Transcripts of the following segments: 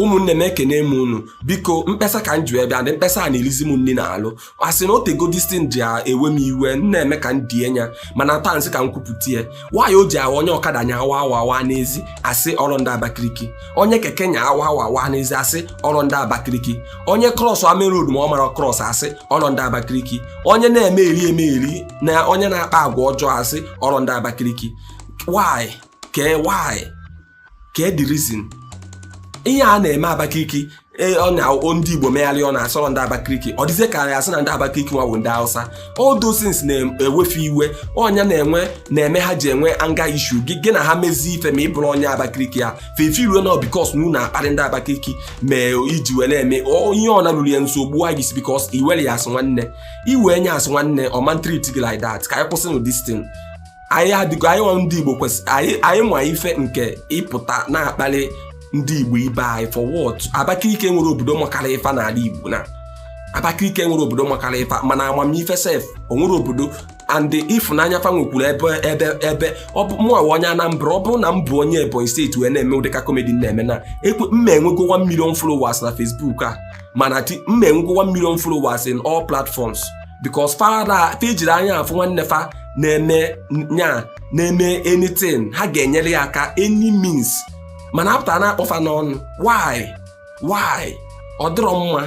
ụmụnne m ekene m unu biko mkpesa ka m ji wee bịa the mkpesa a na-erizi m nri n'alụ asị na otego distin ji ewe m iwe m na-eme ka m die nya mana taa m sị ka m kwupụta ya why o ji awụ onye ọkada nya awa awa awa n'ezi asị ọrụ ndị abakiriki onye keke nya awa awa awa n'ezi asị ọrụ ndị abakiriki onye krọsa main road ma ọ mara krọs asị ọrụ ndị abakiriki onye na-eme eri eme eri na onye na-akpa agwa ọjọọ asị ọrụ ndị abakiriki why kee why kee the reason ihe a na-eme Abakaliki e, ọ ndị Igbo mee alụ a na-asị ọrụ ndị Abakaliki ọ dịzie ka a ya-asị na ndị Abakaliki nwa bụ ndị Hausa all those things na-ewe fa iwe ọ nya na-enwe na-eme ha ji enwe anger issue gị gị na ha mezie ife ma ị bụrụ onye Abakaliki ya fefe iwe na because na unu akparị ndị Abakaliki mee iji wee na-eme ihe ọ na-alụrụ ya nsogbu a gisi because i were ya as nwanne i we nya as nwanne ọ ma treat gị like that ka anyị kwụsịnụ this anyị adịgo anyị nwa ndị Igbo kwesịrị anyị nwa ife nke ịpụta na-akpalị ndị Igbo ibe anyị for what Abakaliki nwere obodo makara ife n'ala Igbo na Abakaliki nwere obodo makara ife mana amamife sef o nwere obodo and ịfụnanya fa nwekwuru ebe ebe ebe ọ bụ mụnwa onye Anambra ọ bụrụ na m bụ onye Ebonyi State wee na-eme ụdị ka komedi na-eme na ekwe mma enwego 1 million followers na Facebook a mana mma enwego 1 million followers in all platforms because fa ejirọ anya afụ nwanne fa na-eme nya na-eme anything ha ga-enyere ya aka any means mana a pụta na-akpọ fa n'ọnụ why why ọ dịrọ mma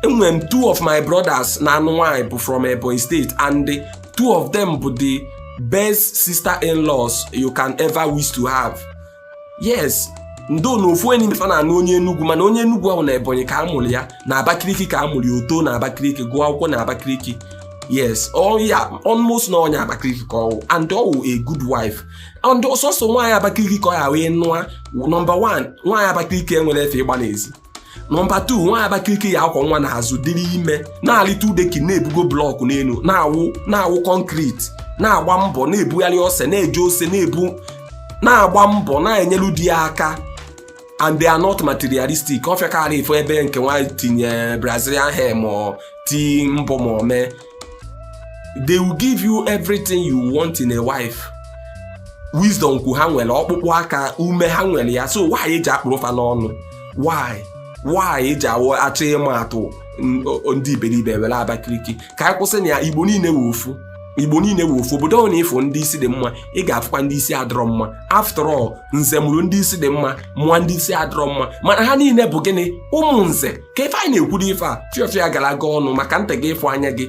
enwere m two of my brothers na-anụ nwanyị bụ from Ebonyi State and the two of them bụ the best sister in-laws you can ever wish to have yes ndo na ofu onye n'ime fa na-anụ onye Enugu mana onye Enugu ọ wụ na Ebonyi ka a mụrụ ya na Abakaliki ka a mụrụ ya o too na Abakaliki gụọ akwụkwọ na Abakaliki yes ya almost na onye Abakaliki ka ọ wụ and ọ wụ a good wife and ọ sọsọ nwaanyị Abakaliki ka ọ ya wee nụa nọmba 1 nwaanyị Abakaliki enwerọ efe ịgba n'ezi nọmba 2 nwaanyị Abakaliki ya-akwọ nwa n'azụ dịrị ime na-alị two decking na-ebugo blọkụ n'elu na-awụ na-awụ kọnkriti na-agba mbọ na-ebugharị ose na-eje ose na-ebu na-agba mbọ na-enyelu di ya aka and they are not materialistic ọ fịaka alụ ịfụ ebe nke nwaanyị tinye brazilian hair ma ti mbọ ma ome they will give you everything you want in a wife wisdom kwu ha nwere ọkpụkpụ aka ume ha nwere ya so why eji akpụrụ fa n'ọnụ why why o ji awụ a chọọ ịma atụ ndị iberibe e were abakiriki ka anyị kwụsịnụ ya igbo niile wụ ofu igbo niile wụ ofu obodo ọbụna ị fụ ndị isi dị mma ị ga-afụkwa ndị isi adịrọ mma after all nze mụrụ ndị isi dị mma mụọ ndị isi adịrọ mma mana ha niile bụ gịnị ụmụ nze ka ife anyị na-ekwuru ife a fiọfịa gara aga ọnụ maka ntị gị ịfụ anya gị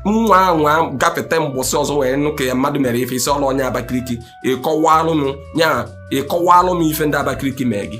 nwa anwa gafete mbọsị ọzọ wee nụ ka ya mmadụ mere ife isi ọrụ onye abakiriki ị kọwalụ m ya ị kọwalụ m ife ndị abakiriki mee gị